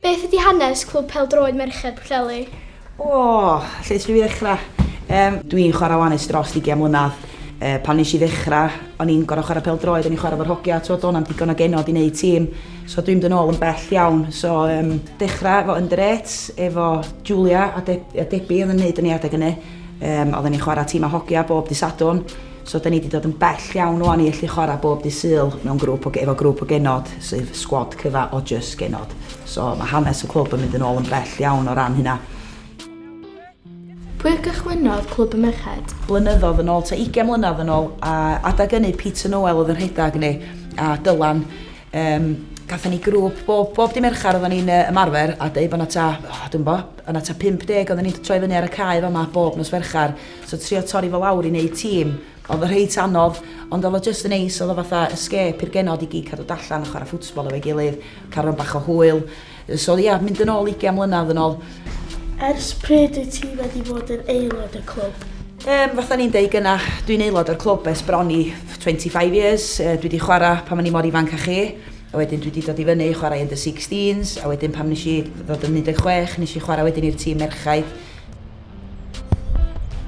Beth ydy hanes Clwb Pêl-droed Merched Pwllheli? O! Lle ydw i ddechrau? Yym, dw i'n chwarae wan ers dros ugain mlynedd. Yy, pan wnes i ddechrau, o'n i'n gorfod chwarae pêl-droed, o'n i'n chwarae efo'r hogia, tibod, doedd 'na'm digon o genod i wneud tîm. So dwi'n mynd yn ôl yn bell iawn. So, yym, dechrau efo under eights, efo Julia a De- a Debbie oedd yn wneud y newiadau gynnau. Yym, oedden ni'n chwarae tîm â hogia bob dydd Sadwrn. So 'da ni 'di dod yn bell iawn ŵan i ellu chwarae bob dydd Sul mewn grŵp o efo grŵp o genod sydd sgwad cyfa o jyst genod. So mae hanes y clwb yn mynd yn ôl yn bell iawn o ran hynna. Pwy gychwynnodd Clwb y Merched? Blynyddodd yn ôl, ta 20 mlynedd yn ôl, a adag ynny Peter Noel oedd yn rhedag ni a Dylan. Um, gathen ni grŵp, bob, bob di Merchar oedden ni'n uh, ymarfer a dweud bod yna ta, oh, dwi'n bo, yna ta 50 oedden ni'n troi fyny ar y cae fama bob nos Ferchar. So trio torri fo lawr i neud tîm odd reit anodd ond odd o jyst yn neis odd o fatha escape i'r genod i gyd cadw do allan a chwara football efo'i gilydd ca'l run bach o hwyl so ia mynd yn ôl ugian mlynadd yn ôl. Ers pryd wyt ti wedi bod yn aelod y clwb? Yym fatha ni'n deud gynna dwi'n aelod o'r clwb ers bron i 25 years yy dwi di chwara pan o'n i mor ifanc a chi a wedyn dwi di dod i fyny i chwara under 16s a wedyn pam nesh i ddod yn 16 nesh i chwara wedyn i'r tîm merchaid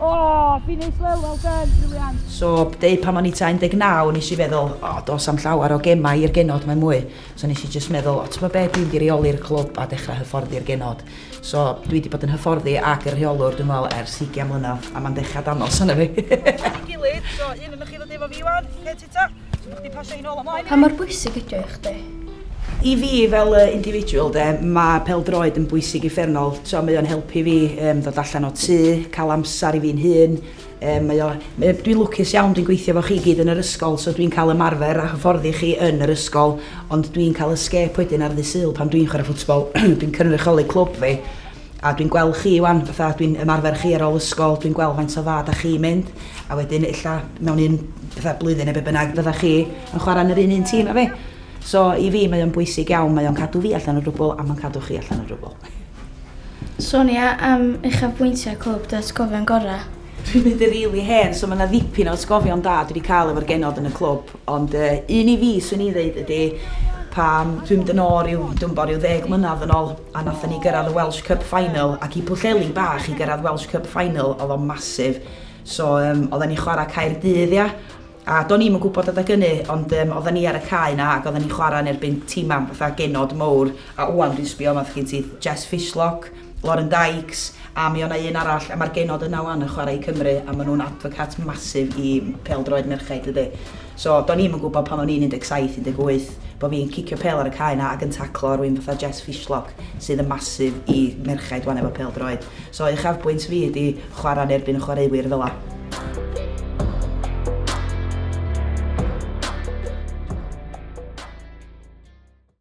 O, oh, finish well, well done, Julian. So, deu pan o'n i ta 19, nes i feddwl, o, oh, dos am llawer o gemau i'r genod, mae mwy. So, nes i just meddwl, o, oh, ti'n be, dwi'n di reoli'r clwb a dechrau hyfforddi'r genod. So, dwi wedi bod yn hyfforddi ac yn rheolwr, dwi'n meddwl, ers 20 mlynedd, a mae'n dechrau danos yna fi. Gilydd, so, un yn chi ddod efo fi, Iwan, lle ti Ta, so bod chdi pasio hi'n ôl ymlaen. Pa mor bwysig ydio i chdi? I fi fel uh, individual de, mae peldroed yn bwysig i ffernol. So, mae o'n helpu fi um, ddod allan o tŷ, cael amser i fi'n hun. Um, mae o, mae, dwi'n lwcus iawn, dwi'n gweithio fo chi gyd yn yr ysgol, so dwi'n cael ymarfer a hyfforddi chi yn yr ysgol, ond dwi'n cael escape wedyn ar ddydd syl pan dwi'n chwarae ffwtsbol, dwi'n cynrychioli clwb fi. a dwi'n gweld chi 'wan fatha dwi'n ymarfer chi ar ôl ysgol dwi'n gweld faint o dda 'dach chi'n mynd a wedyn ella mewn un fatha blwyddyn ne' be' bynnag fydda chi yn chwara yn yr un un tîm â fi. So i fi mae o'n bwysig iawn mae o'n cadw fi allan o dwbwl a ma'n cadw chi allan o dwbwl. Sonia am uchafbwyntiau clwb dy atgofion gora? Dwi'n mynd yn rili hen so ma' 'na ddipyn o atgofion da dwi 'di ca'l efo'r genod yn y clwb ond yy un i fi swn i ddeud ydi pan dwi'n mynd yn ôl ryw dwi'm bo' ryw ddeg mlynadd yn ôl a nathon ni gyrradd y Welsh Cup final ac i Pwllheli bach i gyrradd Welsh Cup final o'dd o'n massive so yym oddan ni chwara Caerdydd ia? A do'n i'm yn gwybod adag ynny, ond yym oddan ni ar y cae 'na ac oddan ni'n chwarae yn erbyn timau fatha genod mowr, a ŵan dwi'n sbio yma 'thoch chi'n syth, Jess Fishlock, Lauren Dykes, a mi o' 'na un arall, a ma'r genod yna ŵan yn chwarae i Cymru, a ma' nhw'n advocates massive i pêl-droed merchaid dydi? So do'n i'm yn gwybod pan o'n i'n 17, 18, bo' fi'n cicio pêl ar y cae 'na ac yn taclo rywun fatha Jess Fishlock sydd yn massive i merchaid ŵan efo pêl-droed. So uchafbwynt fi ydi chwarae yn erbyn y chwaraewyr fela.